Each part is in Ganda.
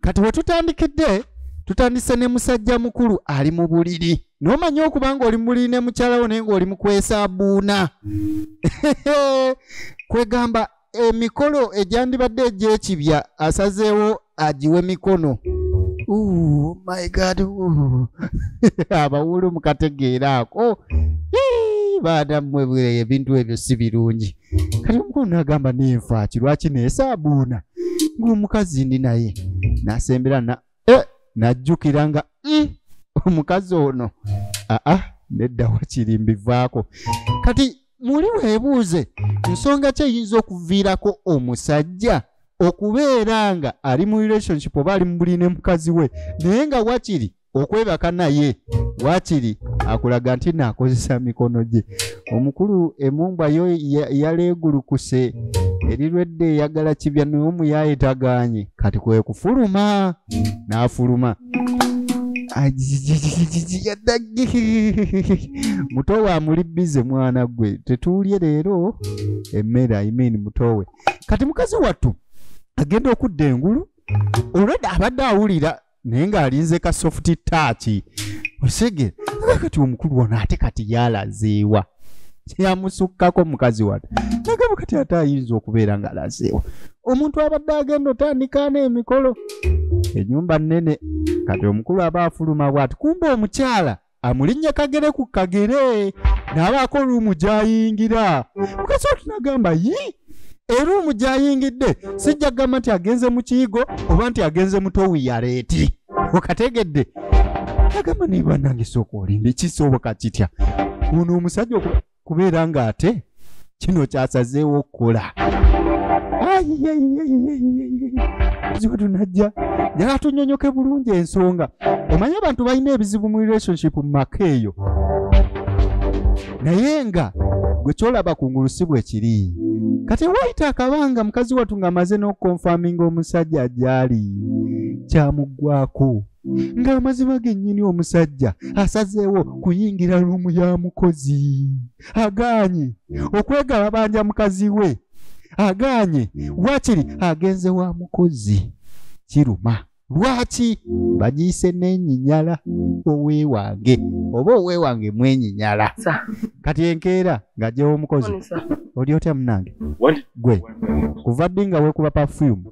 kati wetutandikidde tutandise ne musajja mukulu ali mu buliri nomanya okuba nga oli mubuliri ne mukyalawo naye ngaoli mukwesa buuna kwegamba emikolo egyandibadde egyekibya asazeewo agiwe mikono oh my god abawulu mukategeera ako baadammwe ebintu ebyo si birungi kati omukulu nagamba nenfa ki lwaki nesaabuuna ngaomukazi ndi naye nasembera na e najjukira nga mm, omukazi ono aa nedda wakiri mbivaako kati muli weebuuze nsonga ki eyinza okuviirako omusajja okubeera nga ali mu relationship oba ali mu buli ne mukazi we naye nga wakiri okwebaka naye wakiri akulaga nti naakozesa mikono gye omukulu emumbwa yo yaleegulukuse erirwedde eyagala kibya naye omuyaaye tagaanye kati kwe kufuluma n'afuluma mutowe amuli bize mwana gwe tetuulye leero emmere imean mutowe kati mukazi wattu agenda okudda engulu olwedda abadde awulira naye ng'alinze ka soft touch osege kati omukulu ono ate kati yalazeewa kyeyamusukkako mukazi wano nagamba kati ate ayinza okubeera ng'alazeewa omuntu abadde agenda otandikaana emikolo enyumba nnene kati omukulu aba afuluma bwati kumba omukyala amulinnye kagere ku kagere n'abaako oluumu gy'ayingira mukazi watu n'agamba yi eruumu gy'ayingidde sijja kugamba nti agenze mu kiyigo oba nti agenze mutowi yaleeti okategedde agamba naye banange sooka olimba ekisoboka kitya ono omusajja kubeera ng'ate kino kyasazeewo okukola ziba tunajja njala tunyonyoke bulungi ensonga omanyi abantu balina ebizibu mu relationship mu maka eyo naye nga gwe kyolaba ku ngulu si bwe kiri kati wayita akabanga mukazi watu ng'amaze n'okukonfaminga omusajja gyali kyamuggwako ng'amazima gennyini omusajja asazeewo kuyingira luumu ya mukozi agaanye okwegalabanja mukazi we agaanye wakiri agenze wa mukozi kiruma lwaki bagiyise n'enyinyala oweewange oba oweewange mwenyinyala kati enkeera ng'ajjawo omukozi oli otya munange gwe kuva ddi nga weekuba pafuyumu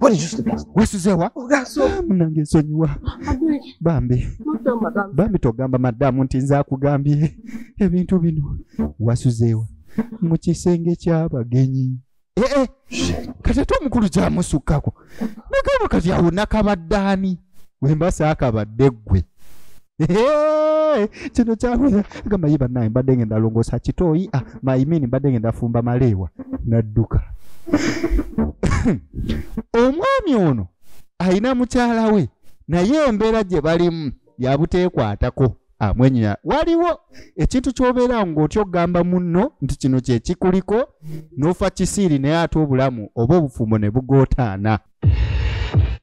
What did you sleep last? Wasuzewa? Ogaso. Munange sonyiwa. Bambi. Bambi togamba madamu nti nza kugambye ebintu bino. Wasuzewa. Mu kisenge ky'abagenyi. Eh eh. Kati ate omukulu gyamusukkako. Nagamba kati awo nakabaddaani. Wemba saakabadde ggwe. Hey, kino kyawera gamba ye banaye mbadde ngenda longosa kitooyi ah, maimini mbadde ngenda fumba maleewa nadduka omwami ono alina mukyala we naye embeera gye balimu yabuteekwatako amwenya waliwo ekintu kyobeera ngaotya okugamba munno nti kino kyekikuliko nofa kisiiri naye ate obulamu oba obufumbo ne bugootaana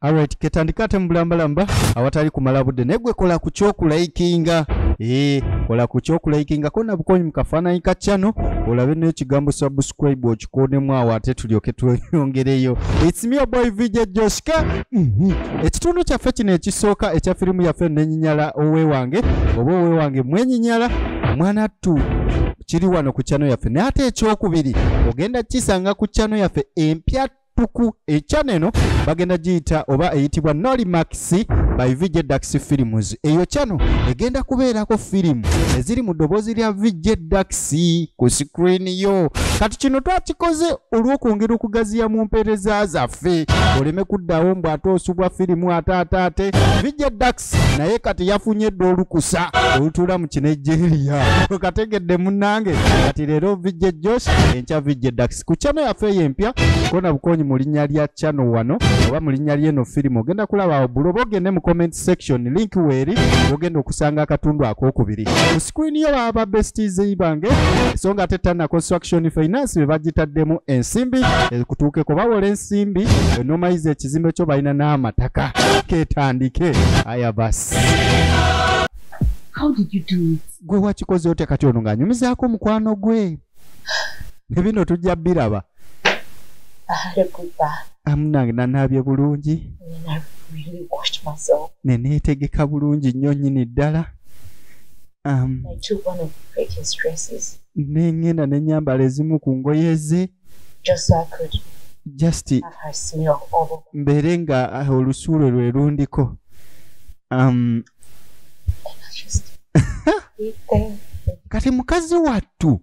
Alright, ketandika ate mubulambalamba awatali kumala budde naye gwe kola ku kyokulayikinga ee eh, kola ku kyokulayikinga kona bukonyi mu kafaananyi ka chano olabe n'ekigambo subscribe okikonemu awo ate tulyoke tweyongereyo its me boy vj joshka mhm. ekitundu kyaffe kino ekisooka ekya firimu yaffe nenyinyala owewange oba owewange mwenyinyala mwana ttu kiri wano ku chano yaffe naye ate ekyokubiri ogenda kisanga ku chano yaffe empya tuku ekyana eno bagenda giyita oba eyitibwa nolimax by vj dax films eyo kyano egenda kubeerako firimu eziri mu ddoboozi lya vj dax ku screen yo kati kino twakikoze olw'okwongera okugaziya mu mpeereza zaffe oleme kuddawo mbu ate osubwa firimu ate ate ate vj dax naye kati yafunye dda olukusa olutuula mu kinejeriya okategedde munange kati leero vijje josh enkya vijje dax ku chano yaffe eyo empya kona bukonyi mu linnya lya chano wano oba mu linnya lyeno firimu ogenda kulaba awo buli oba ogende mu comment section link weeri ogenda okusanga akatundu akokubiri ku screen yo baba ba besties bange so nga ate tana construction finance be bagitaddemu ensimbi ekutuukeko bawola ensimbi enomayiza ekizimbe kyo balina n'amataka ketandike aya basi How did you do it? gwe wakikoze otya kati ono ng'anyumizaako omukwano gwe ne bino tujja biraba I had a good bath amunange nanaabye bulungi and I really washed myself. ne neetegeka bulungi nnyo nnyini ddala um, I took one of Rachel's dresses ne ŋŋenda ne nnyambala ezimu ku ngoye ze just so I could just have her smell all over. Mbeere nga ah, olusuulo lwe lundiko. Um, kati mukazi wattu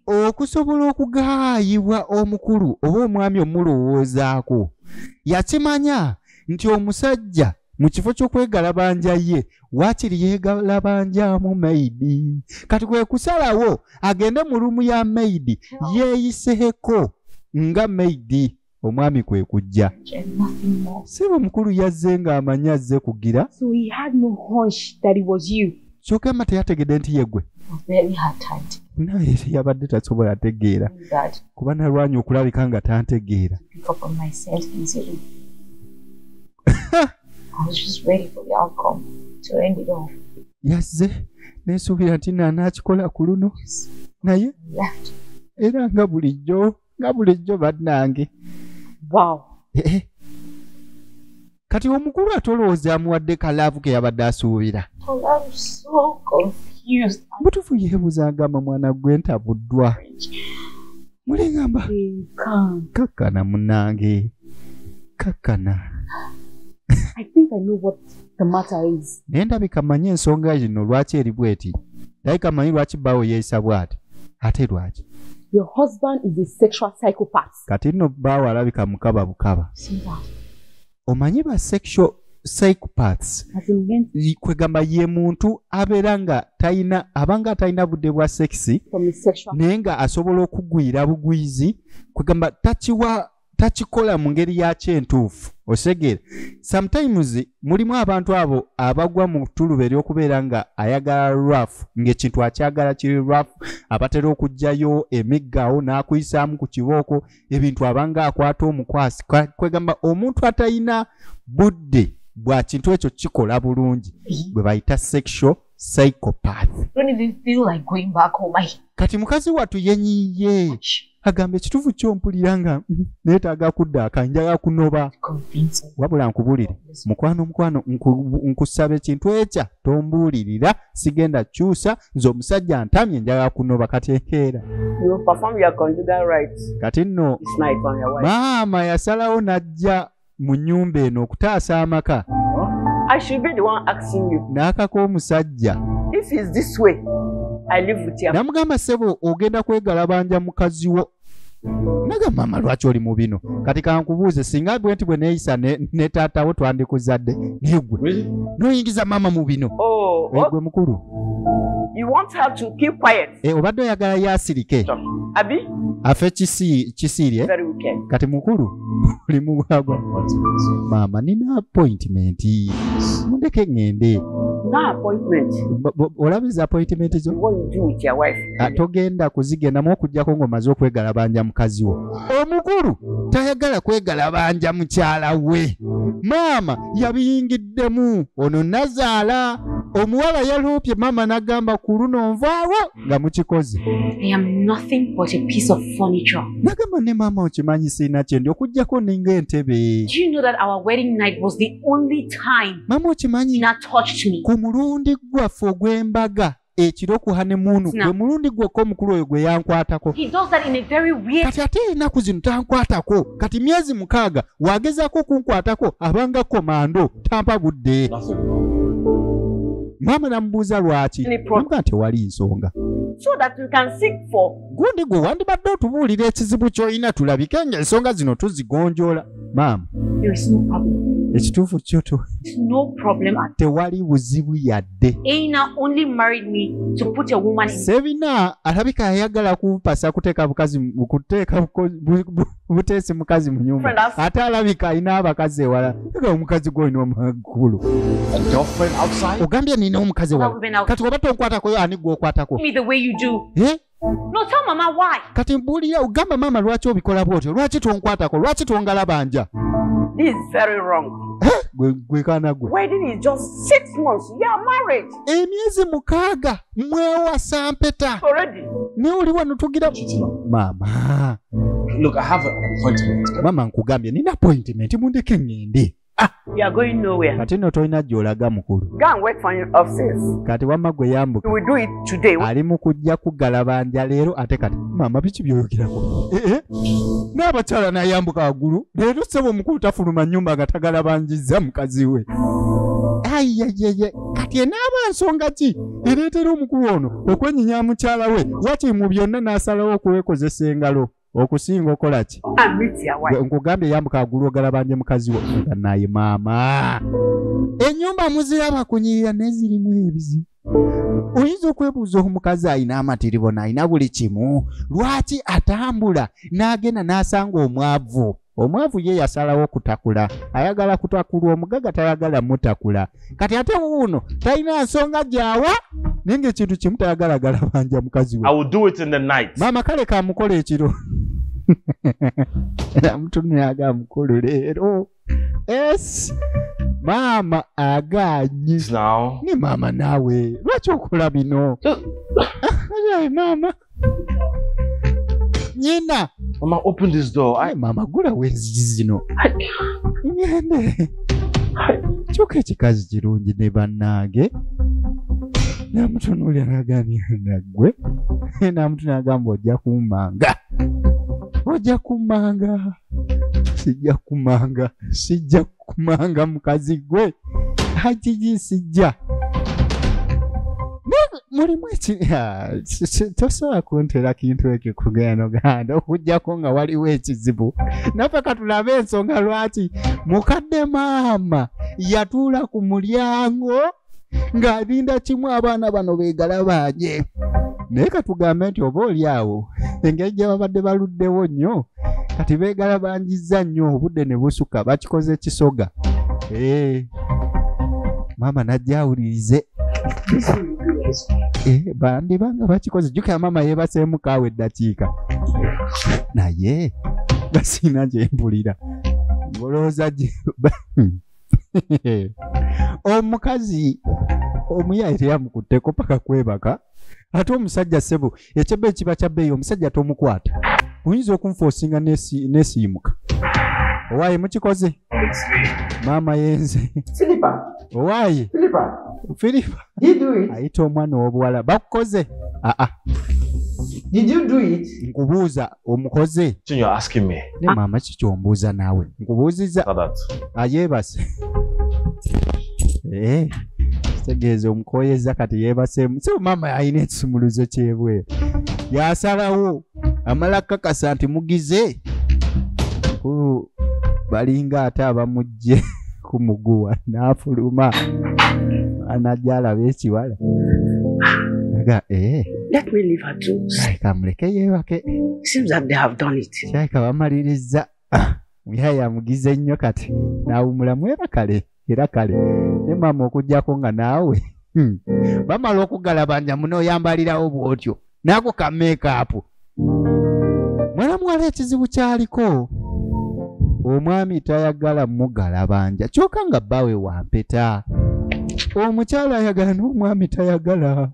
okusobola okugaayibwa omukulu oba omwami omulowoozaako yakimanya nti omusajja mu kifo ky'okwegalabanja ye waakiri yeegalabanjamu maidi kati kwe kusalawo agende mu luumu ya maidi yeeyiseeko nga maidi omwami kwe kujja si bwe mukulu yazze ng'amanyi azze kugira kyoka emma teyategedde nti yegwe naye yabadde tasobola ategeera kuba nalwanya okulabika nga tantegeera yazze nesuubira nti nanakikola ku luno naye era nga bulijjo nga bulijjo bannange wow. Eh, eh. kati omukulu ate olowooza amuwadde kalaavu ke yabadde asuubira butufu yeebuza agamba mwana gwe ntabuddwa mulengamba kakkana munange kakkana naye ndabika manyi ensonga yino lwaki eri bweti ndabika manyi lwaki bawo yeeyisa bwati ate lwaki kati nno baawo alabika mukaba bukaba omanyi ba sexual psychopaths kwegamba ye muntu abeera nga talina abanga atalina budde bwa sexy naye nga asobola okugwira bugwizi kwegamba takiwa takikola mu ngeri yakyo entuufu osegeera sometimes mulimu abantu abo abagwa mu tuluba ery'okubeera nga ayagala raf ng'ekintu akyagala kiri raf abatera okugyayo emiggaawo n'akuyisaamu ku kibooko ebintu abanga akwata omukwasi kwegamba omuntu atalina budde bwa kintu ekyo kikola bulungi bwe bayita sexual psychopath kati mukazi watu yenyiye agamba ekitufu kyo mpulira nga mm, netaaga kudda akanjaga kunoba wabula nkubulire mukwano mukwano nkusaba ekintu ekya tombuulirira sigenda kyusa nze omusajja ntamye njaga kunoba kati enkeera kati nno maama yasalawo najja mu nnyumba eno okutaasa amaka n'akaka omusajja namugamba ssebo ogenda kwegalabanja mukazi wo naga maama lwaki oli mu bino kati kankubuuze singa gwe nti bwe neeyisa ne taatawo twandikuzadde naye gwe noyingiza maama mu bino oh, oh. gwe mukulu You want her to keep quiet. Eh, obadde oyagala yasirike. Abi? Afe kisi kisirye. Very wicked. Kati mukulu oli mugwagwa. Mama nina appointment. Mundeke ngende. Na appointment. Olabiza appointment zo? What you do with your wife? Ah, togenda kuzigenda mu okujjako ng'omaze okwegalabanja mukazi wo. Omukulu tayagala kwegalabanja mukyala we. Maama yabiyingidde. Kiddemu ono nazaala omuwala yaloopye maama nagamba ku luno nvaawo nga mukikoze nagamba ne maama okimanyi siina kyendi okugjako ninga entebe maama okimanyi ku mulundi gwaffe ogw'embaga ekiro ku hanemuunu gwe mulundi gwokka omukulu oyo gwe yankwatako kati ate enaku zino tankwatako kati myezi mukaaga wagezaako okunkwatako abanga komando tampa budde maama namubuuza lwaki amuga nti ewali nsonga gundi gwe wandibadde otubuulira ekizibu ky'olina tulabike nga ensonga zino tuzigonjoola maama ekituufu kyo tewali buzibu yadde sebina alabika yayagala kupasa kuteeka bukazi kuteeka buteesi mukazi mu nyumba ate alabika alina abakazi ewala ga omukazi gwolina omagulu ogambye nina omukazi ewala kati oba tonkwatako ani gwokwatako No, tell mama why. Kati mbuulira ogamba maama lwaki obikola bwotyo lwaki tonkwatako lwaki tongalabanja This is very wrong. Eh, gwe gwe kaana gwe Wedding is just six months. You are married emyezi mukaaga mwewasa mpeta already. naye oli wano tugira maama Look, I have an appointment. maama nkugambye nina appointment mundeke ŋŋende Ah, kati no tolina gyolaga mukulu kati wamma gwe yambuka ali mu kujja kugalabanja leero ate kati maama biki byoyogerako eh, eh. n'abakyala nayambuka waggulu leero sebo omukulu tafuluma nyumba nga tagalabanjizza mukazi we ayayeye kati enaaba nsonga ki ereetera omukulu ono okwenyinya mukyala we wakiri mu byonna n'asalawo okuwekozesa engalo okusinga okolaki nkugambye yambuka agulu ogalabanje mukazi wo nga naye maama enyumba muziraba kunyirira naye zirimu ebizibu oyinza okwebuuza omukazi alina amatiribona alina buli kimu lwaki atambula n'agenda n'asanga omwavu omwavu ye yasalawo okutakula ayagala kutakulwa omugaga tayagala mutakula kati ate wuuno talina nsonga gyawa naye ngaekintu kimu tayagalagala banja mukazi wemaama kale kamukola ekiro era mutunuyaga mukulu leero es maama aganyi ni maama naawe lwaki okola bino maama nyina mama open this door I... mama gulawo enzigi zino ngende kyokka ekikazi kirungi ne bannaage namutunuulira nagambya naggwe namutu nagamba ojja kummanga ojja kummanga sijja kummanga sijja kumanga mukazi gwe hajijisijja mulimu tosobola kuntera kintu ekyo kugenda oganda okujjako nga waliwo ekizibu naffe katulabe ensonga lwaki mukadde maama yatuula ku mulyango ng'abinda kimu abaana bano beegalabanye naye katugambe nti oba oli awo engeri gye babadde baluddewo nnyo kati beegala banjizza nnyo obudde ne busuka bakikoze kisoga ee eh, maama najja awulirize ee eh, bandiba nga bakikoze jjukira maama yeebaseemu kaawa eddakiika naye basiina gye mpulira ngolowooza gye hmm. omukazi omuyaye teyamukutteko paka kwebaka ate omusajja sebo ekyebba ekiba kya bbeeyi omusajja tomukwata oyinza okunfoosinga nesiimuka owaye mukikoze maama yenze owaye filipa ayita omwana owobuwala bakukoze aa nkubuuza omukoze ne maama kiki ombuuza naawe nkubuuzizza ayeebase eh, kitegeeza omukoyezza kati yeebaseemu si maama alina ekisumuluzo kyebweru yasalawo amala kakasa nti mugize balinga ate abamujje kumuguwa n'afuluma anajja alaba ekiwala aga ee eh. Let me leave her too. Saika muleke yeebake. Seems that they have done it. Saika bamalirizza. Muyaya amugize nnyo kati n'awumulamu era kale era kale ne maama okuggyako nga naawe hmm. bamala okugalabanja muno oyambalirawo bw'otyo nako ka meekaapu mwana muwala ekizibu kyaliko omwami tayagala mugalabanja kyoka nga bbawe wampeta omukyala ayagala n'omwami tayagala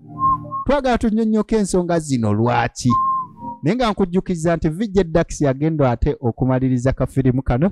twagala tunyonyoka ensonga zino lwaki naye nga nkujjukiza nti vijja dax yagenda ate okumaliriza kafirimu kano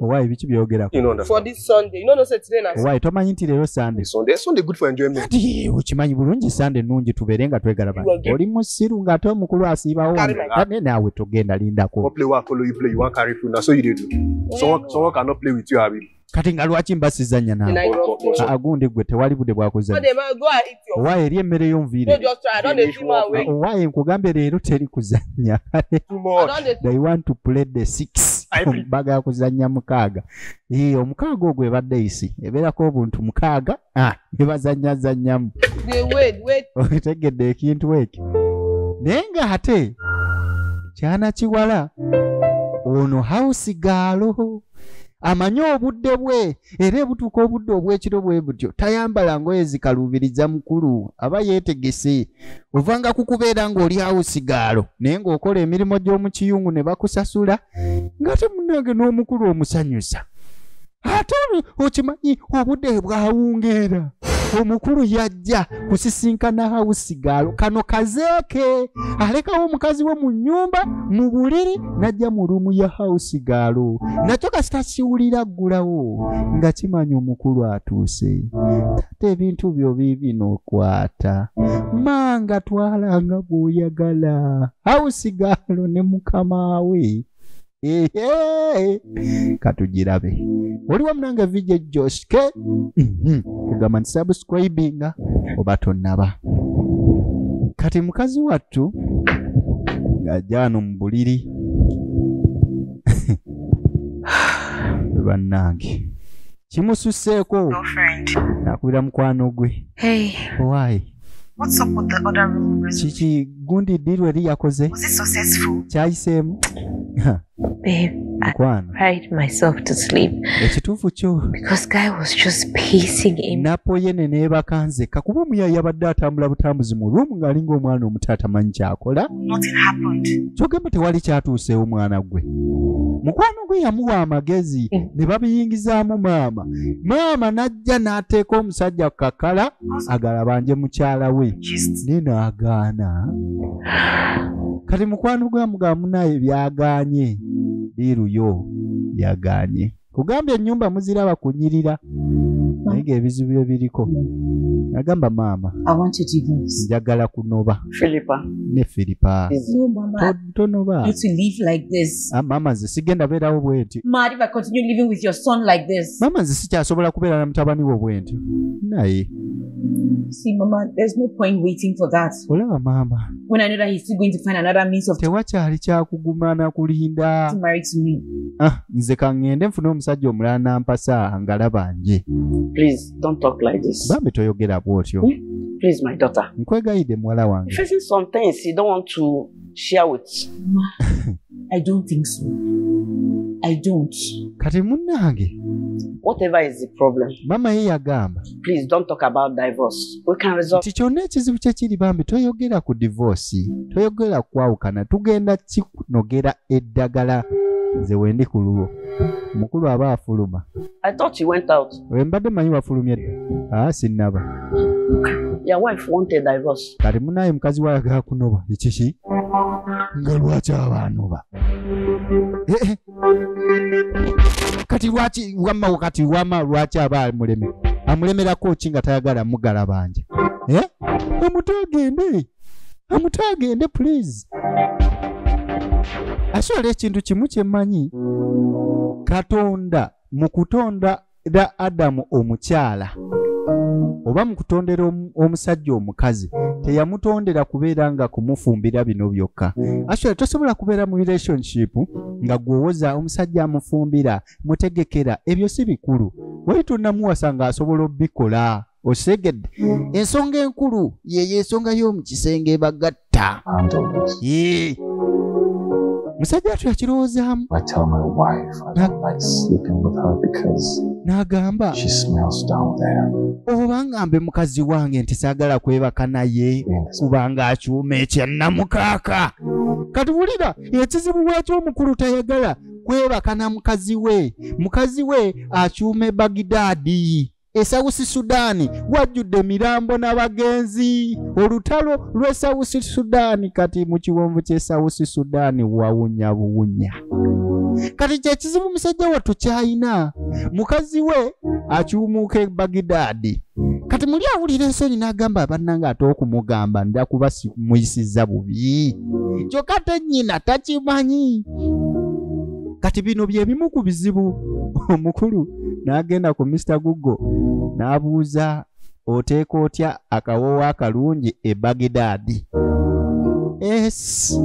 Why biki byogera ku? You know for this Sunday. You know no say today na. Why to manyi nti lero Sunday. Sunday Sunday good for enjoyment. Ati ukimanyi bulungi Sunday nungi tubere nga twegala ba. Oli musiru nga to mukulu asiba wo. Kane nawe togenda linda ko. Play wa ko you play you want carry food na so you dey do. So so can not play with you abi. Kati nga lwaki mbasizanya na. Agundi gwe tewali bude bwa kuzanya. owaye eri emmere yo nviire owaye nkugambye leero teri kuzannya they want to play the six bagala kuzannya mukaaga ee omukaaga ogwo ebadde isi ebeerako obuntu mukaaga ah, ne bazannya zannyamu otegedde ekintu ekyo naye nga ate kyana kiwala ono hausi gaalo amanyi obudde bwe era ebutuuka obudde obw'ekiro bwe butyo tayambala ngoye zikaluubiriza mukulu aba yeetegese ovanga ku kubeera ng'oli awo sigaalo naye ng'okola emirimu gy'omu kiyungu ne bakusasula nga temunange n'omukulu omusanyusa ate okimanyi obudde bwawungeera omukulu yajja kusisinkana hawusigaalo kano kazeeke alekawo omukazi we mu nnyumba mu buliri n'ajja mu luumu ya hawusigaalo nakyo kasita kiwulira ggulawo nga kimanya omukulu atuuse taata ebintu byo biibino okwata manga twalanga bw'oyagala hawusigaalo ne mukama we katugirabe oliwo munange vj joske mhm. kugamba nti subscribinga oba tonaba kati mukazi wattu ng'ajaano mu buliri bannange kimususseeko nakubira mukwano gwe why What's up with the other room reservation? kiki gundi diru eri yakoze Was it successful? kyayiseemu Ha, Babe, I mukwano cried myself to sleep ekituufu kyo because guy was just pacing in. napoye ne neebaka nzekka kuba omuyayi yabadde atambula butambuzi mu room ng'alinga omwana omuto atamanyi kyakola Nothing happened. kyogamba tewali kyatuuseewo mwana gwe mukwano gwe yamuwa amagezi ne babiyingizaamu maama maama n'ajja n'ateeka omusajja ku kakala agala banje mukyala we naye naagaana kati mukwano gwa mugamba munaye byagaanye liiruyo yagaanye kugambye ennyumba muziraba kunyirira naye ng'ebizibu bye biriko agamba maama njagala kunoba ne filipa ntono ba You to live like this. Ah, mama nze sigenda beerawo bwenti Mad if I continue living with your son like this. mama nze sikyasobola kubeera na mutabani wo bwenti naye See, Mama, there's no point waiting for that. olaba maama When I know that he's still going to find another means of tewakyali kyakuguma na kulinda to marry to me. ah, nze kaŋŋende nfune omusajja omulala nampasa ngalaba nje Please don't talk like this. bambi toyogera bw'otyo Please, my daughter. nkwegayidde muwala You're wange facing some things you don't want to share with i don't think so i don't kati munange whatever is the problem mama ye yagamba please don't talk about divorce we can resolve ti kyonna ekizibu kye kiri bambi toyogera ku divorce toyogera kwawukana tugenda kinogera eddagala nze wendi ku lulwo mukulu aba afuluma i thought you went out oyo mbadde manyi wafulumye dda aa ah, sinnaba kati munaye mukazi wayagala kunoba ekiki nga lwaki abanoba eh, eh. kati lwaki wamma kati wama lwaki aba amuleme amulemerako ki nga tayagala mugala banja eh? omuto agende omuto agende please asobola ekintu kimu kyemmanyi katonda mu kutondera adamu omukyala oba mu kutondera omusajja omukazi teyamutondera kubeera nga kumufumbira bino byokka actually tosobola kubeera mu relationship nga gwewoza omusajja amufumbira mutegekera ebyo si bikulu wali tonamuwasa nga asobola obikola osegedde ensonga enkulu yeyo ensonga y'omu kisenge bagatta kutta I'm the worst. Yee. musajja wattu yakirowoozaamu I tell my wife I don't like sleeping with her because n'agamba she smells down there. oba ngambe mukazi wange nti saagala kwebaka naye In this kubanga akyuma ekyannamukaaka kati wulira ekizibu lwaki omukulu tayagala kwebaka na mukazi we mukazi we akyuma ebagidaadi E South Sudan wajjudde mirambo n'abagenzi. Olutalo lw'e South Sudan kati mu kiwonvu ky'e South Sudan wawunya buwunya. Kati kye kizibu musajja wattu ky'alina mukazi we akyumuuka e Bagidaadi. Kati muli awulira ensonyi n'agamba abannanga ate okumugamba nda kuba muyisizza bubi. Kyokka te nnyina takimanyi. Kati bino bye bimu ku bizibu omukulu n'agenda ku mr google n'abuuza oteeka otya akawoowo akalungi e bagidaadi es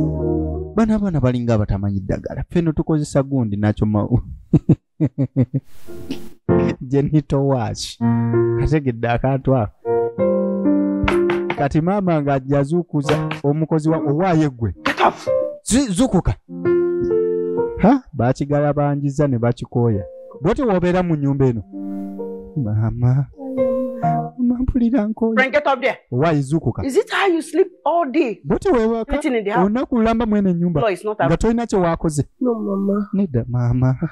bana abaana balinga abatamanyi ddagala feno tukozesa gundi nakyo mawu genitowach kategedde akantu ako kati maama nga yazuukuza omukozi wa owaaye gwe zukuka ha bakigala banjiza ne bakikooya bwotyo wobeera mu nyumba eno maama mampulira nkoyowaizukuka bwotyo wewaka olina kulamba mu eno enyumba nga tolina kyewakoze nedda maama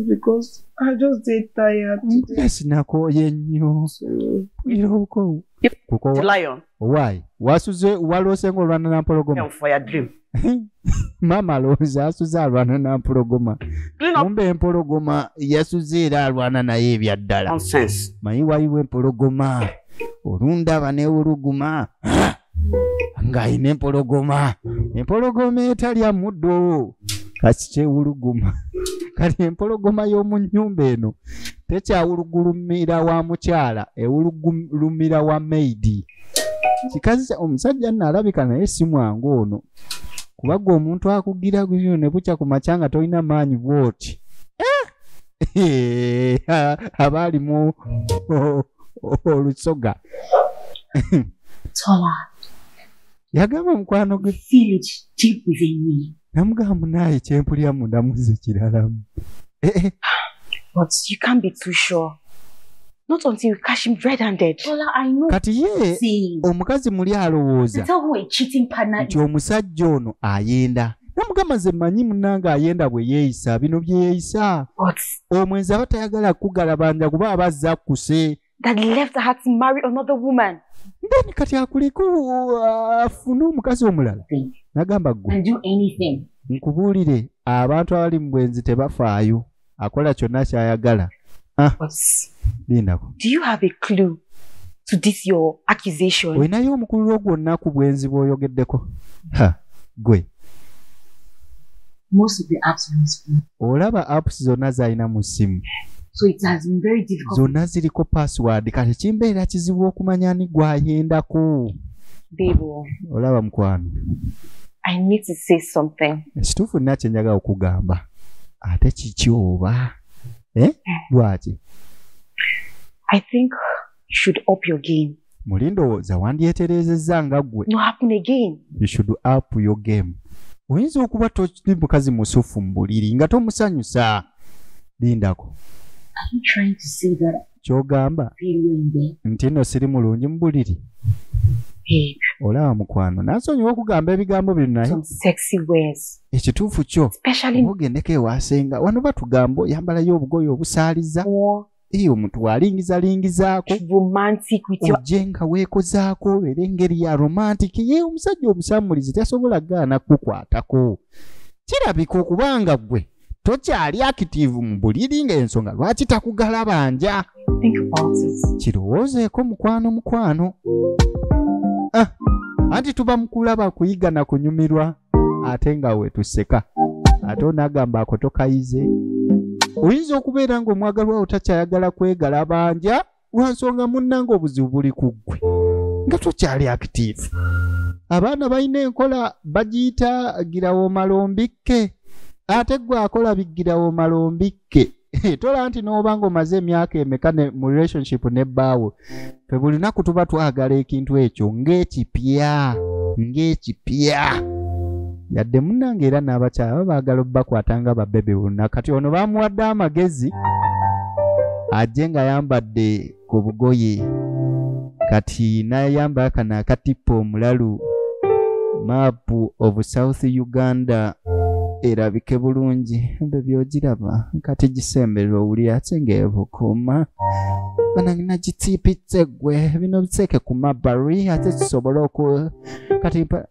because I just did tired. Yes, Nako, you knew. You know, go. Go. Lion. owaayi wasuze waloose nga olwana nampologoma maama alowooza asuze alwana nampologoma kumba empologoma yasuze era alwana naye ebyaddala mayi wayiwa empologoma olundaba newuluguma ng'alina empologoma empologoma etalya muddo kasi kyewuluguma kati empologoma y'omu nnyumba eno tekyawulugulumira wa mukyala ewulugulumira wa maidi kikazi omusajja nno alabika naye si mwangu ono kuba gwe omuntu akugira guyo ne bukya ku makya nga tolina maanyi bwoti eh! aba alimu olusoga yagamba omukwano gwe namugamba munaye kyempulira mundamuze kiralamu eh, eh. not until you catch him red handed Ola, I know. kati ye omukazi muli alowooza nti omusajja ono ayenda namugamba nze manyi munange ayenda bwe yeeyisa bino bye yeeyisa omwenzi aba tayagala kukugalabanja kuba aba azza kuse that left her to marry another woman then kati akuleke afune omukazi omulala nagamba gwe nkubuulire abantu abali mu bwenzi tebafaayo akola kyonna kyayagala ah, lindako olinayo omukululo gwonna ku bwenzi bw'oyogeddeko gwe most of the apps on his phone. Olaba apps zonna zalina mu ssimu. So it has been very difficult. Zonna ziriko password kati kimbeera kizibu okumanya ani gwayendako. Bebo. Olaba mukwano. I need to say something. Ekituufu nina kye njagala okugamba. Ate kiki oba? Eh? eh. Lwaki? I think you should up your game muli ndowooza wandyetereezezza nga ggwe no happen again you should up your game oyinza okuba toli mukazi musufu mu buliri nga tomusanyusa lindako kyogamba nti no siri mulungi mu buliri olaba mukwano nasonyiwa okugamba ebigambo bino naye ekituufu kyo ogendeko ewasenga wano batugamba oyambalayo obugoyi obusaaliza eyo omuntu walingiza lingizaako ojje nga weekozaako obeera engeri ya romantic ye omusajja omusammulizi tasobola gaana kukwatako kirabika okubanga ggwe tokyali akitiivu mu buliri ng'ensonga lwaki takugala banja kirowoozeeko mukwano mukwano ah, anti tuba mukulaba kuyiga na kunyumirwa ate nga wetuseka ate onagamba ako tokayize oyinza okubeera nga omwagalwa wo takyayagala kwegala banja lwansonga munnanga obuzibu buli ku ggwe nga tokyali akitiivu abaana balina enkola bagiyita girawo malombikke ate gwe akola bigirawo malombikke tola nti n'oba ng'omaze emyaka emeka mu relationship ne bbaawo fe buli lunaku tuba twagala ekintu ekyo ng'ekipya ng'ekipya yadde munange era n'abakyala ba baagala obubakwata nga babebe bonna kati ono bamuwadde amagezi ajje ng'ayambadde ku bugoye kati nayamba kano akatippa omulalu maapu of south uganda erabike bulungi ebyo byogiraba kati gisemberera owulira ate ngaebukuuma banange nagitiipitse gwe bino biteeke ku mabari ate kisobole oku kati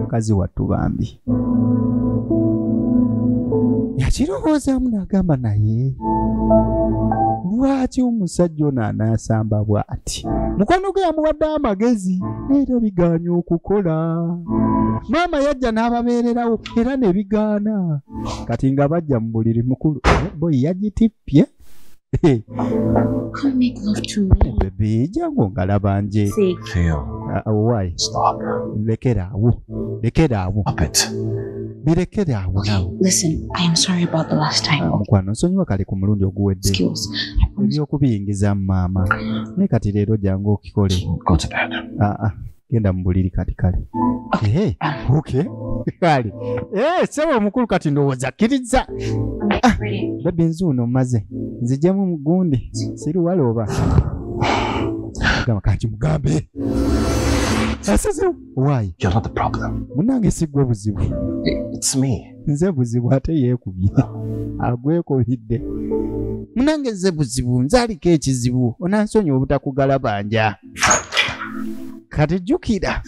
mukazi wattu bambi yakirowoozaamu n'agamba naye lwaki omusajja ono anaasamba bw'ati mukwano gwe yamuwadde amagezi neera bigaanye okukola maama yajja n'ababeererawo era ne bigaana kati nga bajja mu buliri mukulu boyi yagitippye Come make love to me. Hey, baby, jangu ngalaba nje. Sick. Phil. Uh, uh, why? Stop. Lekera awo. Lekera awo. Stop it. Birekere awo nawe. Listen, I am sorry about the last time. Ah, mukwano, nsonyiwa kale ku mulundi oguwedde. Skills. Ebyokubiyingiza maama. Ne kati leero jangu okikole. Go to bed. Ah, ah. genda mu buliri kati kale Eh, okay. kale Eh, sebo omukulu kati ndowooza kkirizza Ah, bebi nzuuno mmaze nzijemu mugundi siriwala oba gamba kanki mugambe asizewo waayi You're not the problem. munange sigwe buzibu It's me. nze buzibu ate yeekubye agwekubidde munange nze buzibu nze aliko ekizibu onansonyiwa obutakugalabanja kati jjukira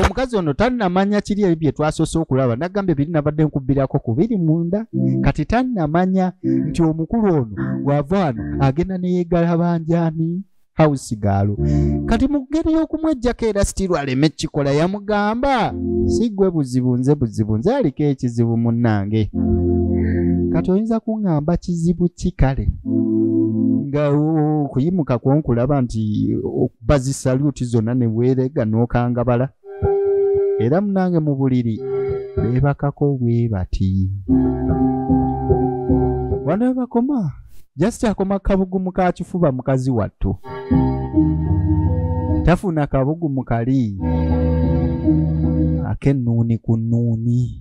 omukazi ono tannamanya kiri ebyo bye twasoose okulaba nagambye biri nabadde nkubbirako ku biri munda kati tannamanya nti omukulu ono wava wano agenda neyegalabanjani house gaalo kati mu ngeri y'okumwejjako era sitiru aleme kikola yamugamba si gwe buzibu nze buzibu nze aliko ekizibu munnange kati oyinza kuŋŋamba kizibu ki kale nga okuyimuka kwonkulaba nti okubazi saluti zonna ne weerega n'okangabala era munange mu buliri beebakako bwe bati wano webakoma jasiti akoma kabugumu ka kifuba mukazi wattu tafuna kabugumu kali ak'ennuuni ku nnuuni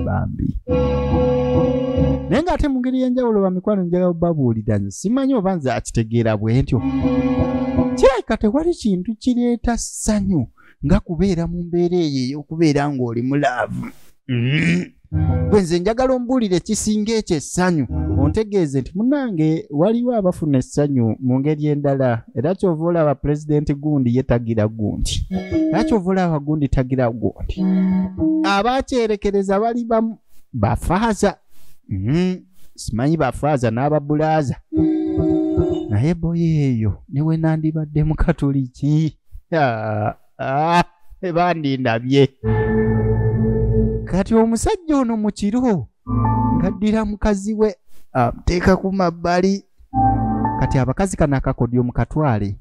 bambi naye ng'ate mu ngeri y'enjawulo bamikwano njagala babuulira nze simanyi oba nze akitegeera bwentyo kirabika tewali kintu kireeta ssanyu nga kubeera mu mbeera eyo ey'okubeera ng'oli mu laavu mm-hmm. gwe nze njagala ombuulire ekisinga ekyo essanyu ontegeeze nti munange waliwo abafuna essanyu mu ngeri endala era kyova olaba pulezidenti gundi ye tagira gundi era kyova olaba gundi tagira gundi abakyerekereza bali bamu bafaaza mm, simanyi bafaaza n'ababulaaza naye boyo eyo newenandibadde mukatuliki Ah, bandindabye kati omusajja ono mu kiro ngaddira mukazi we amuteeka ku mabbali kati abakazi kano akakodyo mukatwale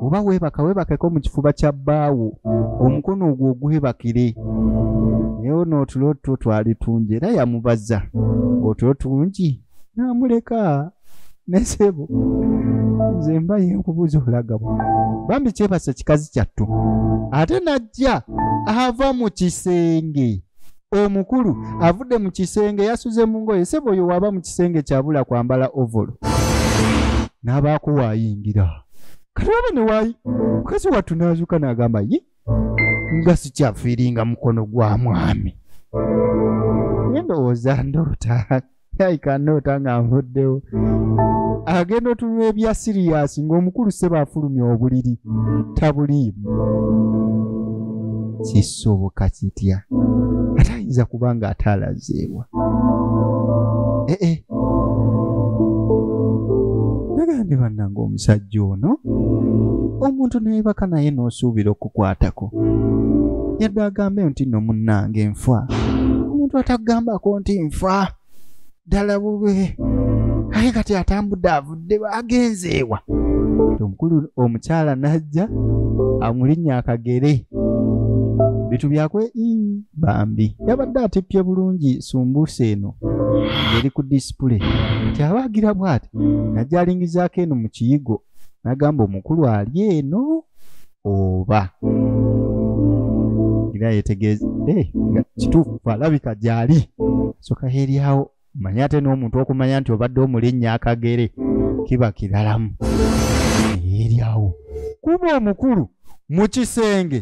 oba weebaka weebakeko mu kifuba kya bbaawo omukono ogwo ogwebakire naye ono otulo two twali tungi era yamubaza otulo tungi namuleka nesebo nze mba yenkubuuza olagabo bambi kyebasa kikazi kyattu ate najja ava mu kisenge omukulu avudde mu kisenge yasuze mu ngoye sebo oyo waba mu kisenge kyabula kwambala ovolo n'abaako waayingira kati waba ne waayi mukazi wattu n'azuuka n'agamba ye nga sikyafiiringa mukono gwa mwami nendowooza ndoota aikanoota nga nvuddewo agenda otunula ebya siriyasi ng'omukulu seba afulumya obuliri tabuliimu kisoboka kitya ate ayinza kuba nga ataalazeebwa eh, eh. nagambye bannanga omusajja ono omuntu nayebaka naye n'osuubira okukwatako yadde agambe nti no munnange nfa omuntu atakugambako nti nfa ddala bube aye kati atambudde avudde agenzeewa omukulu omukyala n'ajja amulinnya akagere bitu byakwe bambi yabadde atippye bulungi sumbuusa eno ngeri ku disipule nti abaagira bw'ati nagyalingizaako eno mu kiyigo n'agamba omukulu ali eno oba era yetegeeza eh, nga kituufu alabika gyali soka eryawo manya ate n'omuntu okumanya nti obadde omulinnya akagere kiba kiralamu eryawo kuba omukulu mu kisenge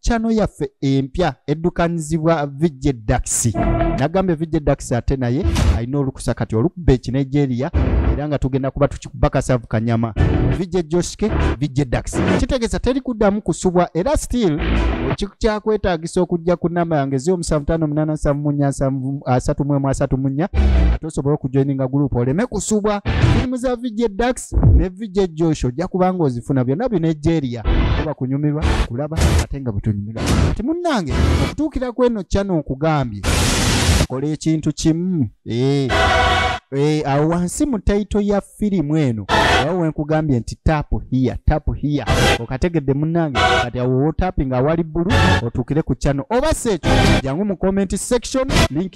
chano yaffe empya eddukanyizibwa vijje daxi nagambye vijje daxi ate naye alina olukusa kati olukuba ekinigeria era nga tugenda kuba tukikubakasavu kanyama vijje joshke vijje daxi kitegeeza teri kuddamu kusubwa era still ekikyakwetagisa okujja ku namba yange zio musanvu tano munana nsanvu munya nsanvu asatu mwemu asatu munya ate osobole okujoininga gurupu oleme kusubwa firimu za vijje dax Facts. ne VJ Josh ojja kubanga ozifuna byonna bino ejeria oba kunyumirwa kulaba ate nga bwetunyumirwa kati munnange okutuukira ku eno channel nkugambye kola ekintu kimu eh. Eh, awo wansi mu taito ya firimu eno awo wenkugambye nti tapu hiya tapu hiya okategedde munange kati awo wotapinga awali bbulu otuukire ku channel oba seekyo jangu mu comment section link